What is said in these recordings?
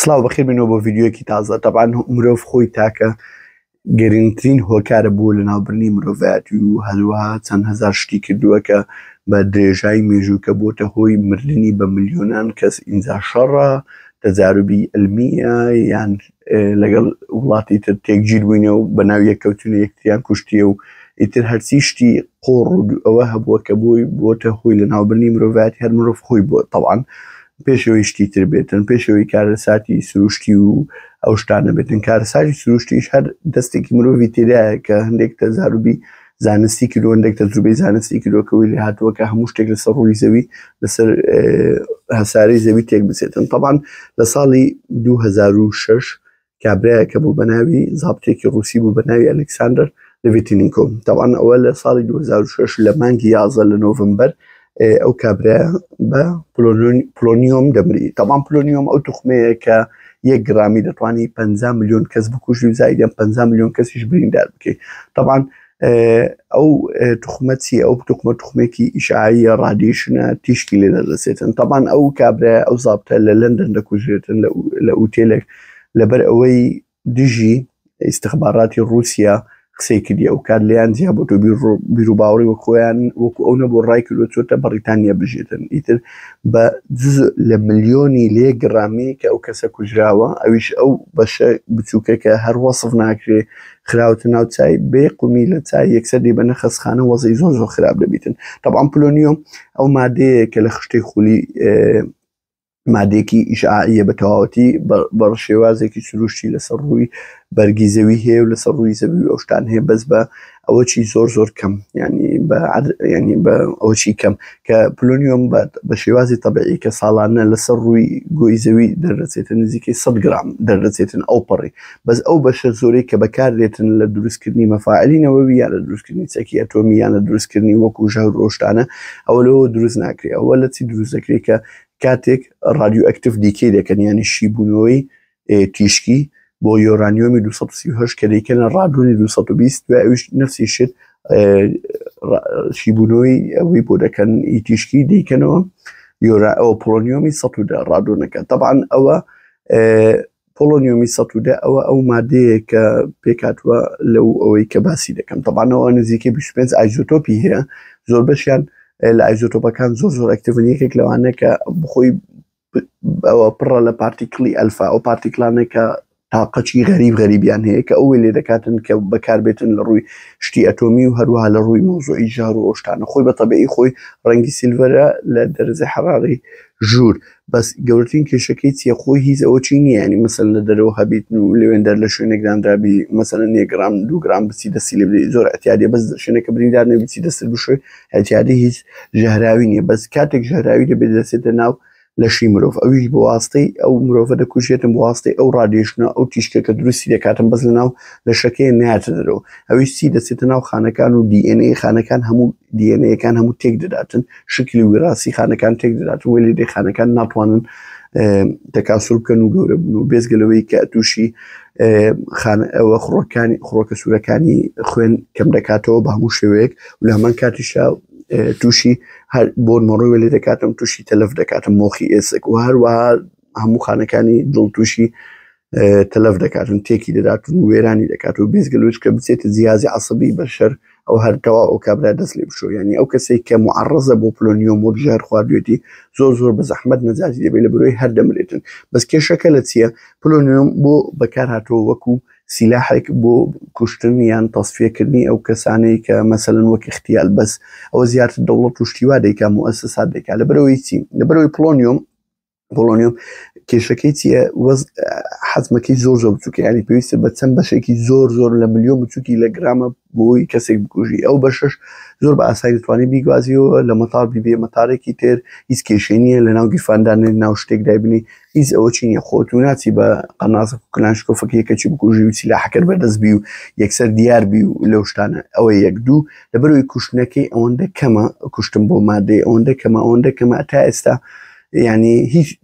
سلااو بەخیر بینەوە بۆ ڤیددیوەکی تازە تەبان مرۆڤ خۆی تاکە گەرنگترین هۆکارە بوو لە ناوبرنی مرۆڤایەتی و هەروەها چەند هزار شتی کردووە کە بە درێژای مێژووکە بۆتە هۆی مردنی بە ملیۆنان کەس ئینجا شەڕە تەجاروبی ئەلمیە یان لەگەڵ وڵاتی تر تێکگیر بووینە و بە ناو یەککەوتونە یەکتریان کوشتیە و ئیتر هەرچی شتی قۆڕ و ئەوە هەبووە کە بۆی بۆتە هۆی لە ناوبرنی مرۆڤایەتی هەر مرۆڤ خۆی بۆ تەوان پێش ئەوەی شتی تر بێتن پێش ئەوەی کارەساتی سروشتی و ئەو شتانە بێتن کارەساتی سروشتیش هەر دەستێکی مرۆڤی تێدایە کە هەندێک تەزاروبی زانستی کردو هەندێک تەجروبەی زانستی کردوەکەوەی لێ هاتووە کە هەموو شتێک لەسەر ڕووی زەوی لەسەر هەسارەی زەوی تێک بچێتن تەبان لە ساڵی 2006 کابراایەکە بوو بە ناوی زابتێکی ڕوسی بوو بە ناوی ئەلکساندەر لەڤتینیکۆ تاوان ئەوە لە ساڵی 2006 لە مانگی یازە لە نۆڤمبەر ئەو کابرا بە پلۆنیۆم دەمری تاوان پلۆنیۆم ئەو توخمەیە کە یەک گرامی دەتوانانی 5 میلیۆن کەس بکوژی و زایدیان 5 میلیۆن کەسیش بریندار بکەیت تاوان ئەو تخمە چی ئەو تخمە تخمێکی ئیشعاییە ڕادیشنە تیشکی لێ دەدەسێتن تەبان ئەو کابرای ئەو زابتە لە لەندەن دەکوژێتن لە ئوتێلێک لەبەر ئەوەی دژی ئیسخباراتی رووسیا قسەی کردی ئەو کار لیان جیا بۆ تۆ بیروباوەڕی وە خۆیان وەکو ئەو نەبوو ڕای کردو چۆتە بەڕیتانیا بژێتن ئیتر بە جز لە ملیۆنی لێ گرامی کە ئەو کەسە کوژراوە ئەویش ئەو بەشە بچووکە کە هەر وەصف ناکرێ خراوەتە ناو چای بێ قومی لە چای یەکسەر دی بە نەخەسخانە وەزی زۆر زۆر خراپ دەبیتن طبعا پلۆنیۆم ئەو مادەیە کە لە خشتەی خولی مادێکی ئیشعاە بە تەواوەتی بە شێوازێکی سروشتی لەسەر ڕووی بەرگی زەوی هەیە و لەسەر ڕووی زەوی ئەوشتان هەیە بەس بە ئەوەی زۆر زۆر کەم ینی ینی بە ئەوەی کەم کە پلۆنیۆم بە شێوازی تەبعی کە ساڵانە لەسەر ڕووی گۆی زەوی دەردەچێتن نزیکەی 100 گرام دەردەچێتن ئەو پەڕی بەس ئەو بەشە زۆرەی کە بەکاردێتن لە دروستکردنی مەفاعلی نەوەوی یان لە دروستکردنی چەکی ئەتۆمی یان لە دروستکردنی وەکو ژەر ڕۆشتانە ئەوە لەوە دروست ناکرێت ئەوە لە چی دروست دەکرێت کە کاتێک ڕادیو ئەکتف دیکەی دەکەن یانی شیبوونەوەی تیشکی بۆ یۆرانیۆمی 238 کە دەیکەنە ڕادۆنی 220 دوای ئەوش نفسی شت شیبوونەوەی ئەوەی بۆ دەکەن ئی تیشکی دەیکەنەوە یۆرا ئەو پۆلۆنیۆمی 110 ڕادۆنەکە تەبان ئەوە پۆلۆنیۆمی 110 ئەوە ئەو مادەیە کە پێکاتوە لەو ئەوەی کە باسی دەکەم تەبانەوە نزیکە 25 ئایزۆتۆپی هەیە زۆر بەشیان لە ئایزۆتۆپەکان زۆر زۆر ئەکتڤنیەکێک لەوانە کە بخۆی ئەوە پڕە لە پارتیکڵی ئەلفا ئەو پارتیکلانە کە تاقەچی غەریب غەریبیان هەیە کە ئەوێ لێ دەکاتن کە بەکاربێتن لە ڕووی شتی ئەتۆمی و هەروها لە ڕووی مۆزۆی ژار و ئەوشتانە خۆی بە تەبیعی خۆی ڕەنگی سیلڤەرە لە دەرزە حەڕاری ژوور بەس گەورترین کێشەکەی چیە خۆی هیز ئەوە چی نییە ینی مەسەن لە دەرەوە هەبیت و لەوێندەر لە شوێنێک دانرابی مەسەن نیە گرام دوو گرام بچی دەسی لێ زۆر ئەتیادە بەس شوێنەکە بریندار نەبیی دەست بشوێ ئیتیادی هیچ ژەهراوی نیە بەس کاتێک ژەهراوی دەبێت دەچێتە ناو لەشی مرۆڤ ئەویش بەواستەی ئەو مرۆڤە دەکوژێتم بواستەی ئەو ڕادێشنە ئەو تیشکە کە دروستی دەکاتم بەس لە ناو لە شەکەیە ناتە دەرەوە ئەویش سی دەچێتە ناو خانەکان و دیNA خانەکان هەموو دیNەکان هەموو تێک دەداتن شکلی وراسی خانەکان تێک دەداتن وەلی دێ خانەکان ناتوانن تەکاسول بکەن و گەورە بن و بێزگەلەوەی کە تووشی خانەوە خڕۆکانی خڕۆکە سوورەکانی خوێن کەم دەکاتەوە بە هەموو شێوەیەک و لە هەمان کاتیشا تووشی هەر بۆ مەڕۆی وەلی دەکاتم تووشی تەلف دەکاتم مۆخی ئێسک و هەروە هەموو خانەکانی دڵ تووشی تەلف دەکاتن تێکی دەداتن و وێرانی دەکات و بێزگەلووت کە بچێتە جیازی عسەبی بەشەر ئەو هەر تەواو ئەو کابرا دەست لێ بشۆ یعنی ئەو کەسێک کە معڕزە بۆ پلۆنیۆم و ژار خواردوێتی زۆر زۆر بە زەحمەت نەجاتی دەبێت لە برۆی هەر دەمرێتن بەس کێشەکە لە چییە پلۆنیۆم بۆ بەکار هاتۆ وەکو سیلاحێک بۆ کوشتن یان تەسفیەکردنی ئەو کەسانەی کە مەسەن وەک اختیال بەس ئەوە زیاتر دەوڵەت و شتیوا دەیکا موەسسات دەکا لە برەوەی چی لە برەوەی پلۆنیۆم پۆلۆنیۆم کێشەکەی چیە وەز حەزمەکەی زۆر زۆر بچووکە ینی پێویستە بە چەند بەشێکی زۆر زۆر لە ملیۆن بچووکی لە گرامە بۆی کەسێک بکوژی ئەو بەشش زۆر بە ئاسایی توانی بیگوازیەوە لە مەتار بیبێ مەتارێکی تر هیچ کێشێنیە لە ناو گیرفاندان ناو شتێک دایبنی هیچ ئەوە چینە خۆت و ناچی بە قەنازە کلانشکۆفەکەیەکەچی بکوژی و سیلاحەکەر بەدەست بی و یەکسەر دیار بی و لەو شتانە ئەوە یەک دوو لەبەرەوەی کوشتنەکەی ئەوەندە کەمە کوشتم بۆ مادەی ئەوەندە کەمە ئەوەندە کەمە تا ئێستا یعنی هیچ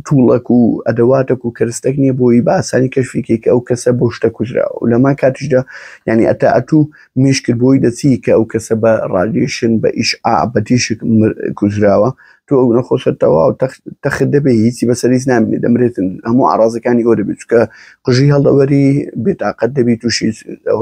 توڵەک و ئەدەواتەک و کەرستەک نییە بۆی باسانی کەشفیکەی کە ئەو کەسە بۆ شتە کوژراوە و لەما کاتیشدا یعنی ئەتا ئەتوو مشکل بۆی دەچی کە ئەو کەسە بە ڕادیشن بە ئیش ئا بە تیشک کوژراوە تۆ ئەو نەخۆشە تەواو تەخت دەبێ هیچی بەسەریز نامێنێ دەمرێتن هەموو ئارازەکانی ئەو دەبێت چکە قژی هەڵدەوەری بێتاقەت دەبی تووشی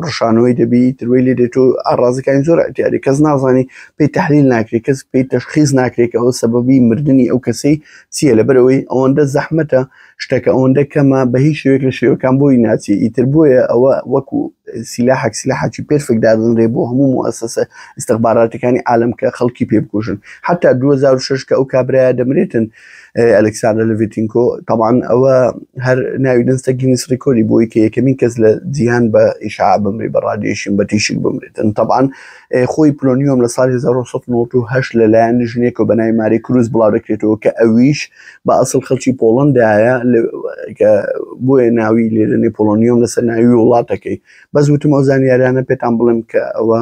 ڕشانەوەی دەبی تروی لێ دێت و ئارازەکانی زۆر ئەتیاری کەس نازانی پێی تحلیل ناکرێت کەس پێی تەشخیز ناکرێت ئەوە سەبەبی مردنی ئەو کەسی چییە لەبەرەوەی ئەوەندە زەحمەتە شتەکە ئەوەندە کەمە بە هیچ شوێک لە شێوەکان بۆی ناچی ئیتر بۆیە ئەوە وەکو سیلاحەک سیلاحاکی پێرفێک دادنرێ بۆ هەموو موسسە استخباراتەکانی عالم کە خەڵکی پێ بکوژن حتا 2006 کە ئەو کابراە دەمرێتن ئەلکسانە لڤتینکۆ تەوان ئەوە هەر ناوی دەنسە گینیس ڕیکۆری بۆی کە یەکەمین کەس لە جیهان بە ئیشا بمری بە ڕادێشین بە تیشک بمرێتن تەوان خۆی پلۆنیۆم لە ساڵی 1990 لەلایەن ژنێکەوە بە ناوی ماری کروز بڵاو دەکرێتەوە کە ئەویش بە ئەسڵ خەڵکی پۆڵندایە بۆیە ناوی لێدەنێ پۆلۆنیۆم لەسەر ناوی وڵاتەکەی بەس وتمەوە زانیاریانە پێتان بڵێم کە ئەوە